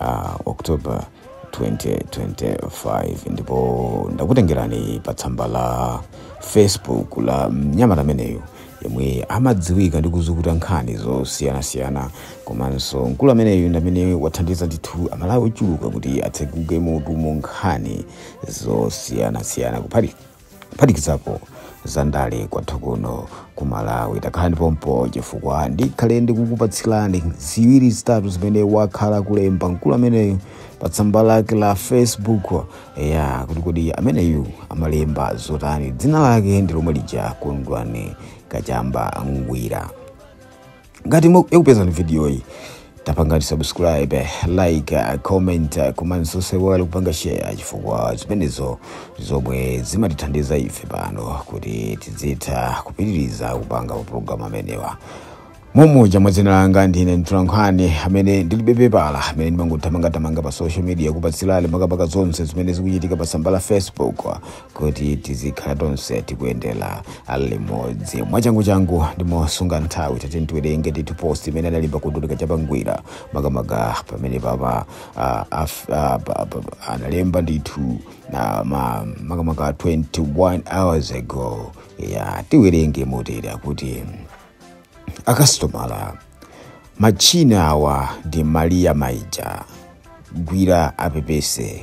uh, October 2025 ndipo ndakutengerani pa tsamba la Facebook la mnyamata ameneyu yemwe amadziwika ndi kuzukuta nkhani zosiyanasiyana komanso mkulu ameneyu ndi amene wathandiza ndithu amalawi ochuluka kuti atseguke mutu mu nkhani zosiyanasiyana kuphatikiza kuphatikizapo zandale kwathu kuno ku malawi takhalani pompo chifukwa ndikhale ndikukupatsilani ziwiri zitatu zimene wakhala akulemba mkulu ameneyu pa tsamba lake la facebook ya kuti kodi ameneyu amalemba zotani dzina lake ndi lomwe lija kondwani kachamba ngwira ngati mwa- yakupezani video iyi tapangani subscribe like uh, comment uh, komanso osaiwala kupanga share chifukwa zimenezo zomwe zimatithandiza ife pano kuti tidzitha kupitiriza kupanga mapulogalamu amenewa monga mwa dzina langa ndine mtolankhani amene ndilibe pepala amene ndimangothamangathamanga pa social media kukupatsirani makamaka zonse zimene zikuchitika pa tsamba la facebook kuti tizikhala tonse tikuyendera limodzi mwachanguchangu ndi mosunga nthawi tati tiwerenge ndithu post imene analemba kondwani kachamba ngwira makamaka pamene papa ah, af- ah, pa- pa- analemba ndithu na ma- makamaka 21 hours ago ya tiwerenge motere akuti akasitomala machina awa ndi maria mainja ngwira apepese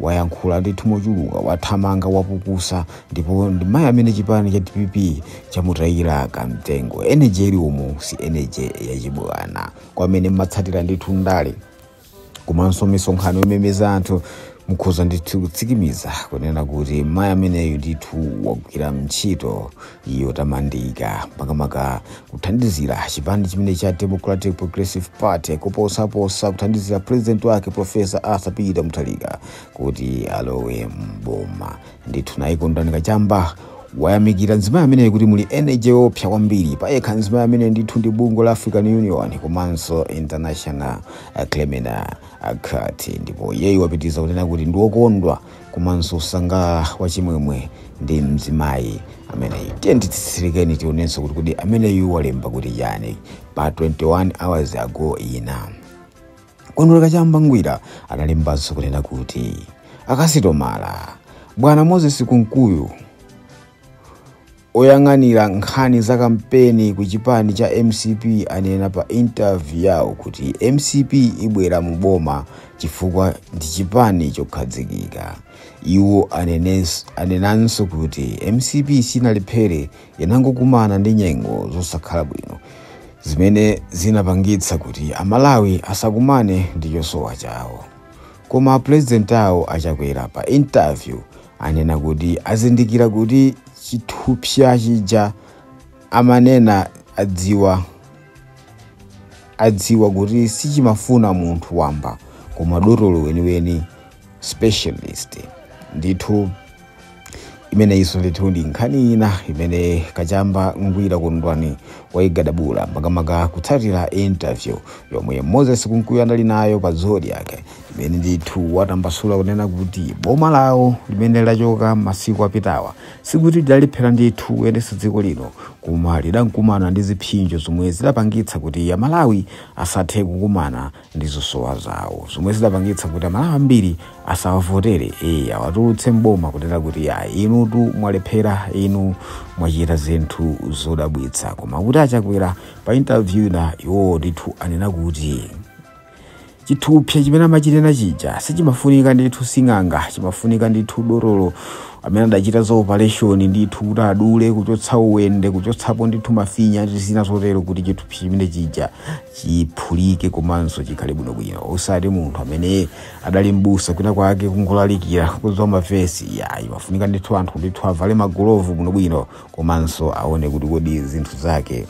wayankhula ndithu mochuluka wathamanga wapukusa ndipo ndi mayi amene chipani cha dpp chamutayira kamtengo energy ili umu si energy yachibwana kwa amene mmatsatira ndithu ndale komanso misonkhano yomemeza anthu mukhoza ndithu kutsikimiza kunena kuti mayi ameneyu ndithu wagwira ntchito yotamandika makamaka kuthandizira chipani chimene cha democratic progressive party kuposaposa kuthandizira president wake profesa arthur peter mutharika kuti alowe mboma ndithu naye kondwani kachamba wayamikira mzimayi ameneyi kuti muli energy yopsa kwambiri payekha mzimayi amene ndithu ndi bungwe la african union komanso international uh, criminal uh, court ndipo iyeyu wapitiriza kunena kuti ndiwokondwa komanso osangalala wachimwemwe ndi mzimayi ameneyi tiyeni titsetsereke tionenso kuti kodi ameneyu walemba kuti chani pa 21 hours ago ina kondwani kachamba ngwira analembanso kunena kuti akasitomala bwana moses kunkuyu Oyang'anira nkhani za kampeni ku chipani cha mcp anena pa interview yawo kuti mcp ibwera mu boma chifukwa ndi chipani chokhadzikika. Iwo anenanso kuti mcp sinalephere inangokumana ndi nyengo zosakhala bwino zimene zinapangitsa kuti a Malawi asakumane ndi chosowa chawo. Koma president awo a Chakwera pa interview anena kuti azindikira kuti chithupsa chija amanena adziwa kuti sichimafuna munthu wamba koma dotolo weniweni specialist ndithu imeneyinso ndithu ndi nkhani ina imene kachamba ngwira kondwani waigadabula makamaka kutsatira interview yomwe moses kunkuyu anali nayo pa zodiac imene ndithu watambasula kunena kuti boma lawo limene lachoka masiku apitawa sikuti lidalephera ndithu kuyendetsa dziko lino koma lidankumana ndi zipsinjo zomwe zidapangitsa kuti amalawi asathe kukumana ndi zosowa zawo zomwe zidapangitsa kuti amalawi ambiri asawavotere ee awatulutse m'boma kunena kuti ya inutu mwalephera inu mwachita zinthu zodabwitsa koma kuti achakwera pa interview ina iwowo ndithu anena kuti chithupsa chimene amachitchena chija sichimafunika ndithu sing'anga chimafunika ndithu dotolo amene adachita za operation ndithu kuti adule kuchotsa uwende kuchotsapo ndithu mafinya ndi zina zotero kuti chithupsa chimene chija chiphulike komanso chikhale bwinobwino osati munthu amene adali mbusa kwina kwake kungolalikira kudziwa mavesi yayi pamafunika ndithu anthu ndithu avale magolovu bwinobwino komanso aone kuti kodi zinthu zake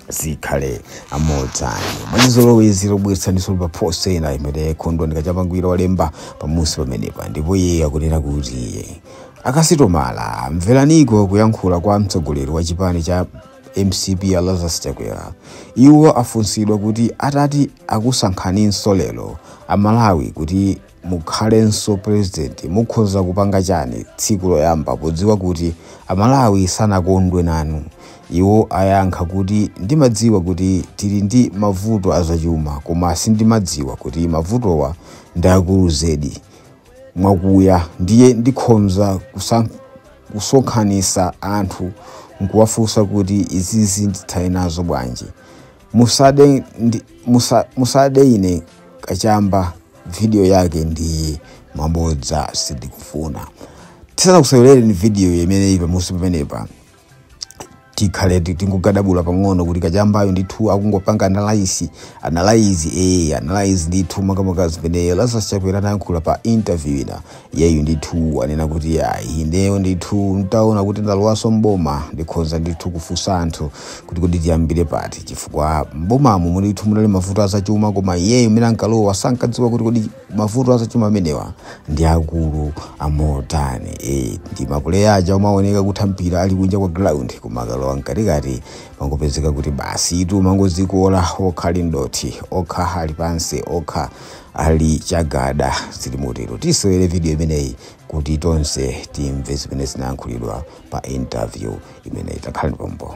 zikhale amotani mwachizolowezi tikubweretseraninso pa post ina imene kondwani kachamba ngwira walemba pamusi pamenepa ndipo iye akunena kuti akasitomala mvereniko kuyankhula kwa mtsogoleri wa chipani cha mcp a Lazarus Chakwera. Iwo afunsidwa kuti atati akusankhaninso lero a Malawi kuti mukhalenso president mukhoza kupanga chani tsiku loyamba podziwa kuti a Malawi sanakondwe nanu. Iwo ayankha kuti ndimadziwa kuti tili ndi mavuto azachuma koma sindimadziwa kuti mavutowa ndi akulu zedi. mwakuya ndiye ndikhonza kusonkhanitsa anthu nkuwafunsa kuti izizi ndithane nazo bwanji musade ine kachamba video yake iyi mabodza sindikufuna tisanakusewerereni video imene ili pamusi pamenepa tikhale tingogadabula pang'ono kuti kachambayo ndithu akungopanga analyze analyze ndithu makamaka zimene Lazarus Chakwera anayankhula pa interview ina iyeyo ndithu anena kuti ineyo ndithu ntaona kuti ndalowaso mboma ndikhonza ndithu kufunsa anthu kuti kodi tiyambire pati chifukwa mbomamo ndithu munali mavuto azachuma koma iyeyo mene ankalowa sankadziwa kuti kodi mavuto azachuma amenewa ndi akulu amotani e, ndi mapuleya aja amaoneka kutha mpira ali kunja kwa ground koma akalowa mkatikati amangopezeka kuti basitu amangozikola okha ali mdothi okha ali pansi okha ali chagada zili motero tisewere video imeneyi kuti tonse timve zimene zinayankhulidwa pa interview imeneyi takhalani pompo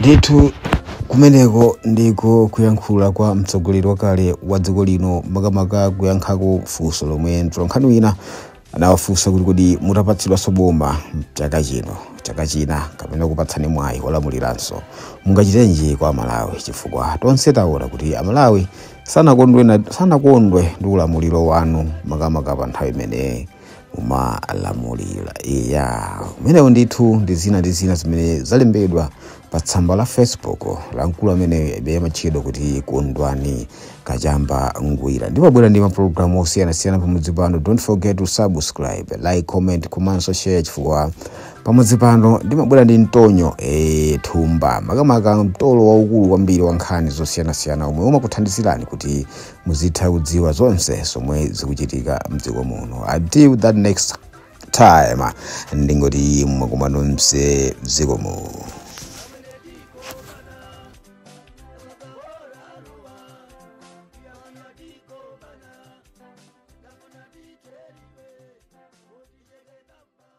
ndithu kumeneko ndiko kuyankhula kwa mtsogoleri wakale wa dziko lino makamaka kuyankhako funso lomwe mtolankhani wina anawafunsa kuti kodi mutapatsidwanso boma chaka chino chaka china kapena kupatsani mwayi wolamuliranso mungachitenji kwa amalawi chifukwa tonse taona kuti amalawi sanakondwe ndi ulamuliro wanu makamaka pa nthawi imene mumalamulira iya amenewo ndithu ndi zina ndi zina zimene zalembedwa pa tsamba la facebook la mkulu amene iye amatchedwa kuti Kondwani Kachamba Ngwira ndimabwera ndi mapulogalamu osiyanasiyana pamudzi pano don't forget to subscribe like comment komanso share chifukwa pamudzi pano ndimabwera ndi mtonyo e, thumba makamaka mtolo waukulu kwambiri wa nkhani zosiyanasiyana omwe umakuthandizirani kuti muzitha kudziwa zonse zomwe zikuchitika mdziko muno until that next time ndingoti mwa kumanonso zikomo